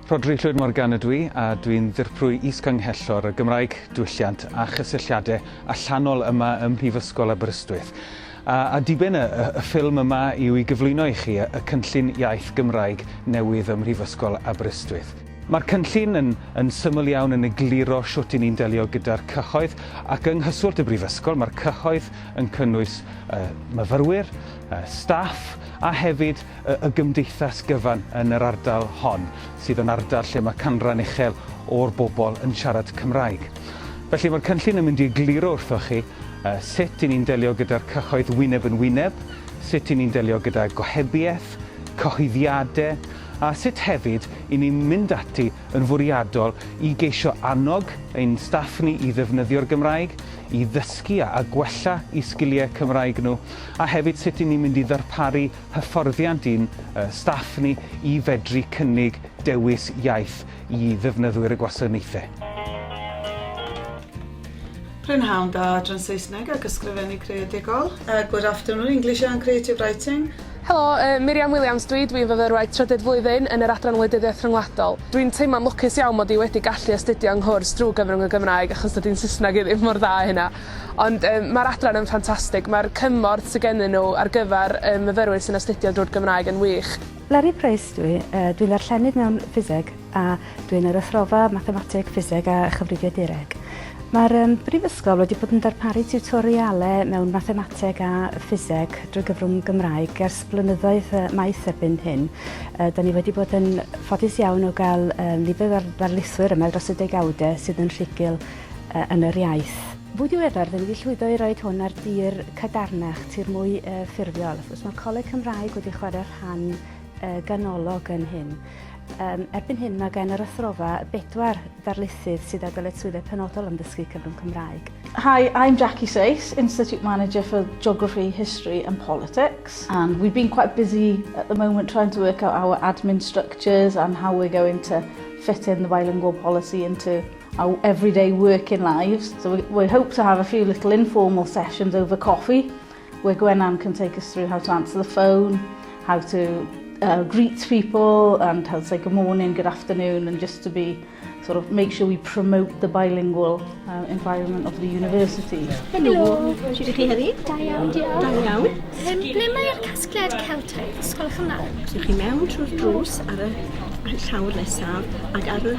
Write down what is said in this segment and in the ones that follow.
Rhodri Llwyd Morgan ydw i a dwi'n Ddirprwy Is-Ganghellor y Gymraeg, Diwylliant a Chysylltiadau Allanol yma ym Mhrifysgol Aberystwyth. A, a diben y, y, y ffilm yma yw i gyflwyno i chi y, y cynllun iaith Gymraeg newydd ym Mhrifysgol Aberystwyth. Mae'r cynllun yn, yn syml iawn yn egluro shwt i ni'n delio gyda'r cyhoedd ac yng nghyswllt y Brifysgol mae'r cyhoedd yn cynnwys y, myfyrwyr, y staff a hefyd y gymdeithas gyfan yn yr ardal hon, sydd yn ardal lle mae canran uchel o'r bobl yn siarad Cymraeg. Felly mae'r cynllun yn mynd i egluro wrthoch chi sut i ni'n delio gyda'r cyhoedd wyneb yn wyneb, sut i ni'n delio gyda gohebiaeth, cyhoeddiadau, a sut hefyd i ni'n mynd ati yn fwriadol i geisio annog ein staff ni i ddefnyddio'r Gymraeg, i ddysgu a gwella i sgiliau Cymraeg nhw, A hefyd sut y'n ni'n mynd i ddarparu hyfforddiant i'n staff ni i fedru cynnig dewis iaith i ddefnyddwyr y gwasanaethau. Prynhawn da, adran Saesneg ac Ysgrifennu Creadigol. Good afternoon, English and Creative Writing. Helo, Miriam Williams dwi, dwi'n fyfyrwraig trydydd flwyddyn yn yr Adran Wleidyddiaeth Rhyngwladol. Dwi'n teimlo'n lwcus iawn mod i wedi gallu astudio yng nghwrs drwy gyfrwng y Gymraeg achos dydy'n Saesneg i ddim mor dda a hynna. Ond yym ma'r adran yn ffantastig, mae'r cymorth sy gennyn nhw ar gyfer y myfyrwyr sy'n astudio drwy'r Gymraeg yn wych. Larry Price dw i, dwi'n ddarllenydd mewn Ffiseg a dw i'n yr Athrofa Mathemateg, Ffiseg a Chyfrifiadureg. Mae'r yym Brifysgol wedi bod yn darparu tiwtorialau mewn Mathemateg a Ffiseg drwy gyfrwng Gymraeg ers blynyddoedd yy maith erbyn hyn. Yy da ni wedi bod yn ffodus iawn o gael yy nifer ar ddarlithwyr yma dros y degawdau sydd yn rhugl yn yr iaith. Fwy diweddar, dan ni wedi llwyddo i roed hwn ar dir cadarnach, tir mwy ffurfiol. Wrth gwrs, mae Coleg Cymraeg wedi chwarae rhan ganolog yn hyn. Erbyn hyn mae gen yr athrofa bedwar darlithydd sydd â dyletswyddau penodol am ddysgu cyfrwng Cymraeg. Hi, I'm Jackie Sace, Institute Manager for Geography, History and Politics and we've been quite busy at the moment trying to work out our admin structures and how we're going to fit in the bilingual policy into our everyday working lives, so we hope to have a few little informal sessions over coffee where Gwenann can take us through how to answer the phone, how to uh, greet people and how to say good morning, good afternoon and just to be sort of make sure we promote the bilingual uh, environment of the university. Helo, sut ydych chi heddi? Da iawn, diolch. Da iawn. Um, ble mae'r casgliad Celtaidd Ysgol Cymraeg? Ydych chi mewn trwy'r drws ar y llawr nesaf ac ar y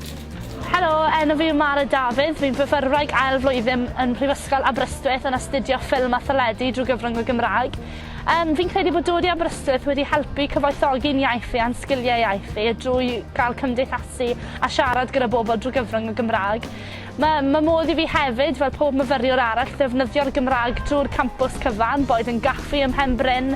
Helo, enw fi yw Mara Dafydd, fi'n fyfyrwraig ail flwyddyn yn Mhrifysgol Aberystwyth yn astudio ffilm a theledu drwy gyfrwng y Gymraeg. Um, fi'n credu bod dod i Aberystwyth wedi helpu cyfoethogi'n iaith fi a'n sgiliau iaith fi drwy gael cymdeithasu a siarad gyda bobl drwy gyfrwng y Gymraeg. Mae ma modd i fi hefyd, fel pob myfyriwr arall, ddefnyddio'r Gymraeg drwy'r campws cyfan, boed yn gaffi ym Mhen Bryn,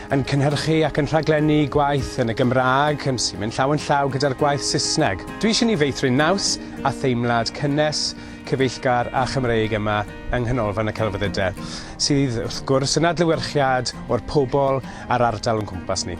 yn cynhyrchu ac yn rhaglennu gwaith yn y Gymraeg yn sy'n mynd llaw yn llaw gyda'r gwaith Saesneg. Dwi eisiau ni feithrin naws a theimlad cynnes, cyfeillgar a Chymreig yma yng Nghanolfan y Celfyddydau, sydd wrth gwrs yn adlewyrchiad o'r pobl a'r ardal o'n cwmpas ni.